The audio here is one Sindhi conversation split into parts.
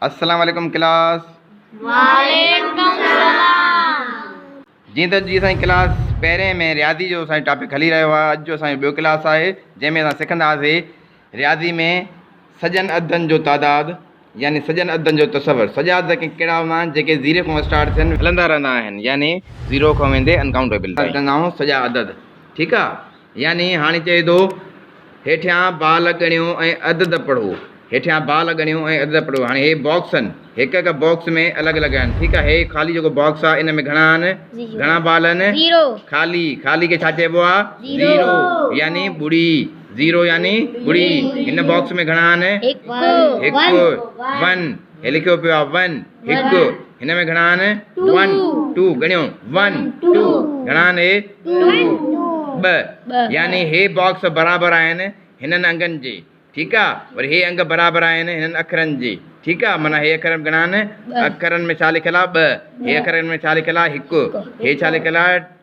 السلام عليڪم ڪلاس وعليڪم السلام جي ته جي سائين ڪلاس پهرين ۾ رياضي جو سائين ٽاپڪ هلي رهيو آهي اڄ جو سائين ٻيو ڪلاس آهي جنهن ۾ اسان سکنداسي رياضي ۾ سڄن عددن جو تعداد يعني سڄن عددن جو تصور سڄا عدد ڪهڙا هوندا آهن جيڪي زيري کان اسٽارٽ ٿين هلندا رهندا آهن يعني زيرو کان ويندي انڪاؤنٽيبل تائين سڄا عدد ٺيڪ آهي يعني هاڻي چئي ٿو، هيٺيان بال ڳڻيو ۽ عدد پڙهو، هيٺيان بال ڳڻيو ۽ عدد پڙهو، هاڻي هي باڪس آهن، هڪ هڪ باڪس ۾ الڳ الڳ آهن، ٺيڪ آهي، هي خالي جيڪو باڪس آهي ان ۾ گهڻا آهن؟ گهڻا بال آهن؟ خالي، خالي کي ڇا چئبو آهي؟ زيرو يعني ٻڙي، زيرو يعني ٻڙي، هن باڪس ۾ گهڻا آهن؟ هڪ، ون. هي لکيو پيو آهي ون هڪ هن ۾ گهڻا آهن ون ٽو ڳڻيو ون ٽو گهڻا آهن هي ٻه يعني هي باڪس برابر آهن هنن انگن جي ٺيڪ آ وري هي انگ برابر آهن هنن اکرن جي ٺيڪ آ معنيٰ هي اکر گهڻا آهن اکرن ۾ ڇا لکيل آ ٻه هي اکرن ۾ ڇا لکيل آ هڪ هي ڇا لکيل آ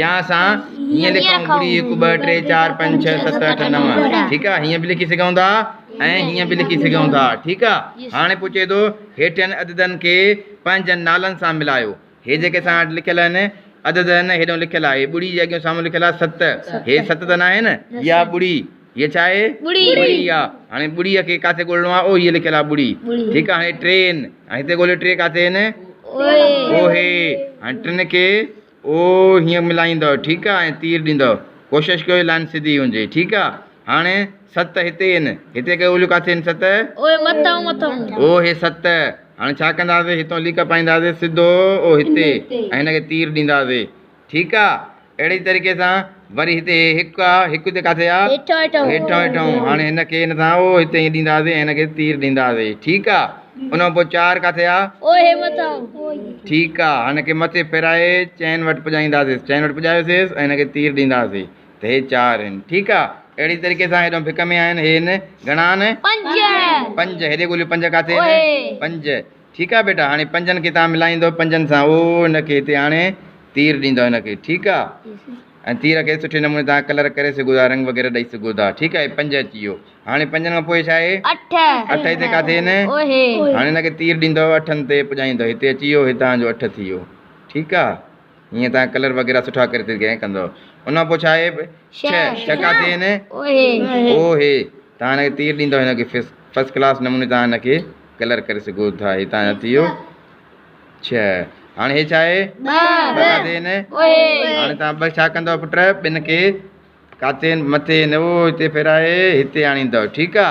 يا اسان ائين لکون ٻڙي هڪ ٻه ٽي چار پنج ڇهه ست اٺ نو ٺيڪ آ هيئن به لکي سگهون ٿا ۽ هيئن به لکي سگهون ٿا ٺيڪ آ هاڻي پوء چئي ٿو هيٺين عددن کي پنهنجن نالن سان ملايو هي جيڪي اسان وٽ لکيل آهن عدد آهن هيڏو لکيل آ هي ٻڙي جي اڳيون سامهون لکيل آ ست هي ست ته ناهي نه هي آ ٻڙي هي ڇا آهي ٻڙي آ هاڻي ٻڙي کي ڪاٿي ڳولڻو آ او هي لکيل آ ٻڙي ٺيڪ آ هاڻي ٽي آهن هتي ڳوليو ٽي ڪاٿي آهن او هي هاڻي ٽن کي او هيئن ملائيندؤ ٺيڪ آ ۽ تير ڏيندؤ ڪوشش ڪيو جو لائين سڌي هجي ٺيڪ آ هاڻي ست هتي هين هتي ڪيو اوليو ڪاٿي هين ست. او هي مٿئون مٿئون. او هي ست هاڻي ڇا ڪنداسي هتئون ليڪ پائينداسي سڌو او هتي ۽ هن کي تير ڏينداسي ٺيڪ آ اهڙي طريقي سان. وري هتي هڪ آ هڪ هتي ڪاٿي آ هيٺون هيٺون هاڻي هن کي هن سان او هتي ائين ڏيندا سي ۽ هن کي تير ڏيندا سي ٺيڪ آ ان کان پوء چار ڪاٿي آ او هي مٿان ٺيڪ آ هن کي مٿي ڦيرائي چئن وٽ پڄائيندا سيس چئن وٽ پڄايو سيس ۽ هن کي تير ڏيندا سي ته هي چار آهن ٺيڪ آ اهڙي طريقي سان هيڏانهن ڀڪ ۾ آهن هي هن گهڻا آهن پنج پنج هيڏي ڳوليو پنج ڪاٿي آهن پنج ٺيڪ آ ٻيٽا هاڻي پنجن کي تان ملائيندؤ پنجن سان او هن کي هتي آڻي تير ڏيندؤ هن کي ٺيڪ آ ۽ تير کي سٺي نموني تان ڪلر ڪري سگهو ٿا رنگ وغيره ڏئي سگهو ٿا ٺيڪ آ هي پنج اچي ويو هاڻي پنجن کان پوء ڇاهي اٺ اٺ هتي ڪاٿي هن هاڻي هن کي تير ڏيندؤ اٺن تي پڄائيندؤ هتي اچي ويو هتان جو اٺ ٿي ويو ٺيڪ آ ھيئن تان ڪلر وغيره سٺا ڪري تي گئين ڪندو ان پو ڇا اھي به ڇھ ڇھ ڪا ٿي ھين او ھي تان ھن کي تير ڏيندو ھن کي فسٽ ڪلاس نموني تان ھن کي ڪلر ڪري سگھو ٿا ھي تان ھي ٿي ويو ڇھ ھاڻي ھي ڇا اھي ٻھ ڪا ٿي ھين او ھي ھاڻي تان ٻھ ڇا ڪندو پٽ ٻن کي ڪاتين مٿي ھين او ھتي ڦيرائي ھتي آڻيندو ٺيڪ آ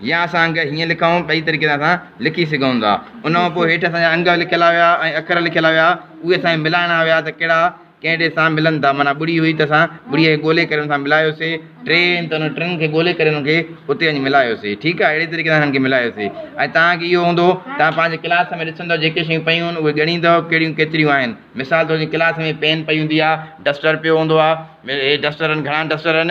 يا اسان انگ هيئن لکون، ٻئي طريقي سان اسان لکي سگهون ٿا. ان کان پوء هيٺ اسان جا انگ لکيل هيا ۽ اکر لکيل هيا، اهي اسان کي ملائڻا هيا ته ڪهڙا ڪهڙي سان ملن ٿا. معنيٰ ٻڙي هئي ته اسان ٻڙيء کي ڳولي ڪري ان سان ملايوسي، ٽي آهن ته انهن ٽن کي ڳولي ڪري انهن کي اتي وڃي ملايوسي. ٺيڪ آهي، اهڙي طريقي سان انهن کي ملايوسي. ۽ توهان کي اهو هوندو، توهان پنهنجي ڪلاس ۾ ڏسندؤ جيڪي شيون پيون هن اهي ڳڻيندؤ ڪهڙيون ڪيتريون آهن. مثال طور جيئن ڪلاس ۾ پين پئي هوندي آهي، ڊسٽر پيو هوندو آهي، هي ڊسٽر آهن، گهڻا ڊسٽر آهن.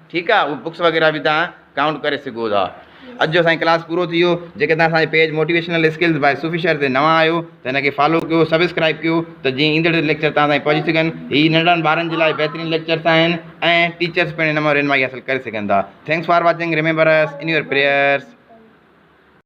ٺيڪ آ اهي بڪس وغيره به توهان ڪائونٽ ڪري سگهو ٿا اڄ جو سائين ڪلاس پورو ٿي ويو جيڪي توهان اسان جي page motivational skills by Sufi Shahar تي نوان آهيو ته هن کي فالو ڪيو سبسڪرائب ڪيو ته جيئن ايندڙ ليڪچر توهان تائين پهچي سگهن هي ننڍڙن ٻارن جي لاء بهترين ليڪچرس آهن ۽ ٽيچرس پڻ هن مان رهنمائي حاصل ڪري سگهن ٿا thanks for watching remember us in your prayers